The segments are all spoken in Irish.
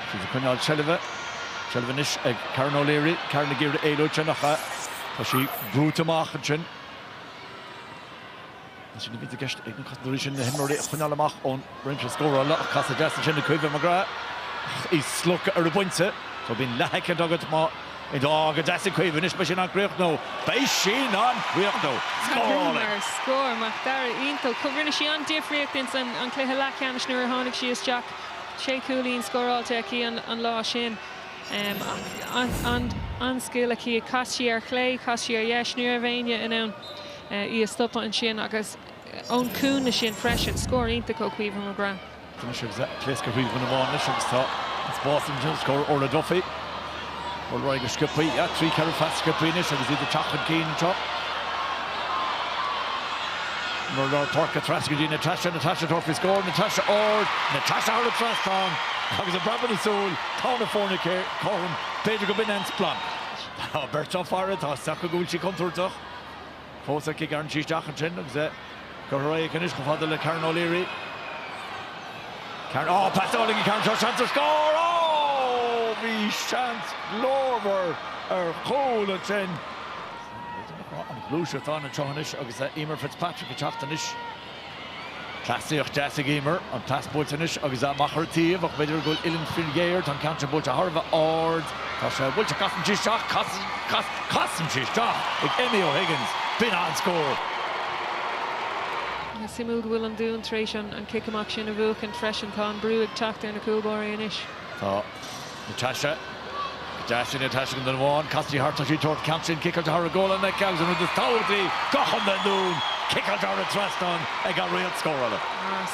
Siad ag coinneáil seilbhe. Seilbh anois ag Karen O'Leary. Karen ag iarraidh éalú ansin ach tá sí brúite amach ansin. Tá sin a bhí i gceist ag na cosantóirí sin na himreoirí a choinneáil amach ón réimse scórála ach casadh deas ansin ag Caoimhe McGrath. Í slogtha ar an bpointe. So bíonn leathshoicind agat má Go deas ag Caoimhe. Anois maith sin an críochnú. Maith sin an críochnú! Scórálaí. Scór Macdara iontach. Rinne sí an-difríocht ins an cluiche leathcheannais nuair a tháinig sí isteach. Sé chúilín scóráilte aici an lá sin. An-scil aici. Chas sí ar chlé, chas sí ar dheis. Ní raibh éinne in ann í a stopadh ansin agus ón gcúinne sin freisin. Scór iontach ó Chaoimhe McGrath. Rinne sibh pléasc ar Thaobh na mBan anois agus tá an spás anois ar oscailt. Orla Duffy ag dul ar aghaidh go sciopthaí. Trí, ceithre phas sciopthaí anois agus iad ag teacht chun cinn anseo. Ón lár páirce trasna go dtí Natasha, Natasha ag tabhairt faoi scór, Natasha ard, Natasha thar an trasnán agus i bhfaiteadh na súl, tá na foirne cothrom, b'fhéidir gurb in é an splanc. Tá beirt á faire, tá a fhios acu go bhfuil sí contúirteach. Fós ag gearán síos teach ansin agus é curtha ar aghaidh anois chomh fada le Karen O'Leary. Karen, oh, pas deas ag Karen anseo, seans ar scór! Oh, bhí seans glórmhar ar chúl ansin. An ghluaiseacht atá ann anseo anois agus Eimear Fitzpatrick ag teacht anois. Cleasaíocht deas ag Eimear. An pas buailte anois agus í amach ar an taobh ach b'fhéidir go bhfuil uillinn fíorghéar. Tá an ceann sin buailte thar a bheith ard. Tá sé buailte. Casann sí isteach. Casann. Casann sí isteach ag Amy O'Higgins. B'in an scór. Suimiúil go bhfuil an Dún tar éis an cic amach sin a bhuachaint freisin. Tá an brú ag teacht ar na cúlbáirí anois. Tá. Natasha, Ag teacht sin, ag teacht sin go duine amháin, casfaidh sí thart is í ag tabhairt faoin gceann sin, ciceáilte thar an ngualainn aici agus an rud is tábhachtaí, go hiomlán dúinn, ciceáilte thar an trasnán ag an réalta scórála.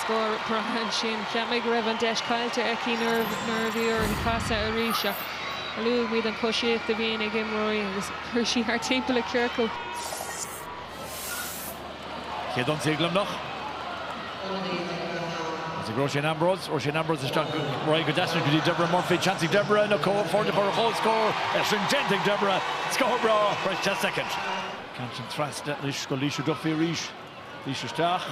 Scór breá ansin. Cheap muid go raibh an deis caillte aici nuair a bhí uirthi casadh arís ach luaigh muid an coisíocht a bhíonn ag imreoirí agus chuaigh sí thart timpeall i gciorcal. Cé don té ag Luimneach? Is ag Róisín Ambrose, Róisín Ambrose isteach go réidh go deas anois go dtí Deborah Murphy, seans ag Deborah na foirne a chur ar chomhscór agus sin déanta ag Deborah, scór breá first chance second. Cinnte trasna anois go Laoise Duffy arís, Laoise isteach.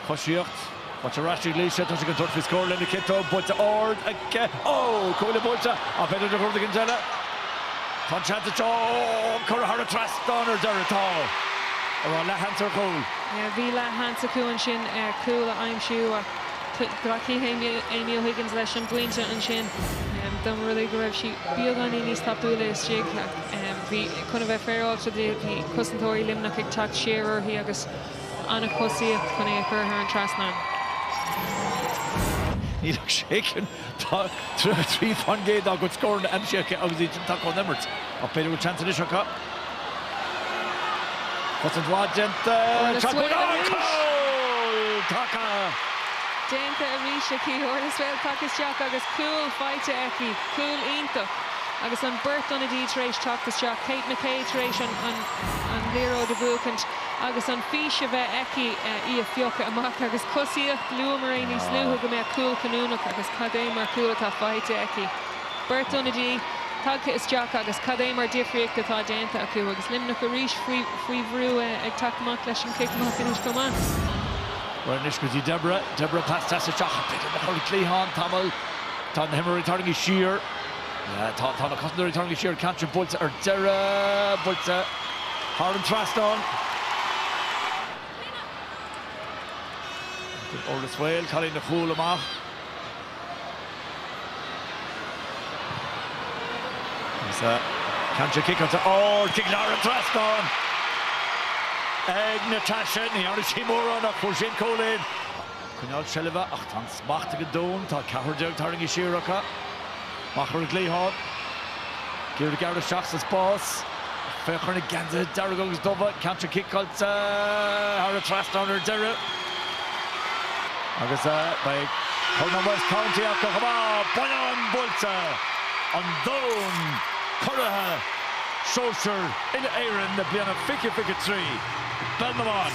Coisíocht, buailte ar ais ag Laoise, tá sí chun tabhairt faoi scór lena ciotóg, buailte ard aici, oh! Cuaille buailte ach b'fhéidir de bharr éigin eile. Tá an seans anseo, oh! Curtha thar an trasnán ar deireadh, tá! An raibh leath sheans ar chúl? Bhí leath sheans acu ansin ar chúl a aimsiú ach ghlacfaidh Amy O'Higgins leis an bpointe ansin. Dá mba rud é go raibh sí beagáinín níos tapúla istigh ach bhí chun a bheith féaráilte di, bhí cosantóirí Luimneach ag teacht siar uirthi agus. An choisíocht chun é a chur thar an trasnán. Níl ach sé cinn, tá 33% dá gcuid scóranna aimsithe aici agus í den taca ón imirt. Ach b'fhéidir go bhfuil seans anois acu. Cosaint mhaith déanta, seans buaite, an cúl! Taca. déanta arís aici. Orla Swail tagtha isteach agus cúl faighte aici. Cúl iontach agus an beirt ionadaí tar éis teacht isteach. Kate McKay tar éis an liathróid a bhuachaint. agus an fís a bheith aici í a phiocadh amach agus coisíocht luamar níos luaithe go mbeadh an cúl cinniúnach agus cad é mar cúl atá faighte aici. Beirt ionadaí tagtha isteach agus cad é mar difríocht atá déanta acu agus Luimneach arís faoi bhrú ag teacht amach leis an chic anois chomh maith. Bhuel anois go dtí Deborah, Deborah pas deas isteach, b'fhéidir nach raibh an cliathán tamall, tá na himreoirí ag tarraingthe siar, Tá na cosantóirí tarraingthe siar ceann ard buailte ar deireadh. Buailte thar an trasnán. Ag ord is bhaol cailín a chúl amach. Is é ceann ard ciceáilte ag ord ag lár an trasnáin ag Natasha. Ní tharraing sí mórán ach fuair sí an cúilín. Ag coinneáil seilbhe ach tá an smacht ag an Dún, tá ceathrar déag tarraingthe siar acu. Mach ar an gcliathán ag iarraidh gearradh isteach sa spás ach féach ar na geansaithe dearga agus dubha. Ceann ard ciceáilte thar an trasnán ar deireadh. Agus beidh Corn an West County acu chomh maith! Bonnán buailte! An Dún curaidh! Sóisir Uile-Éireann na bliana 2023 i bpeil na mban!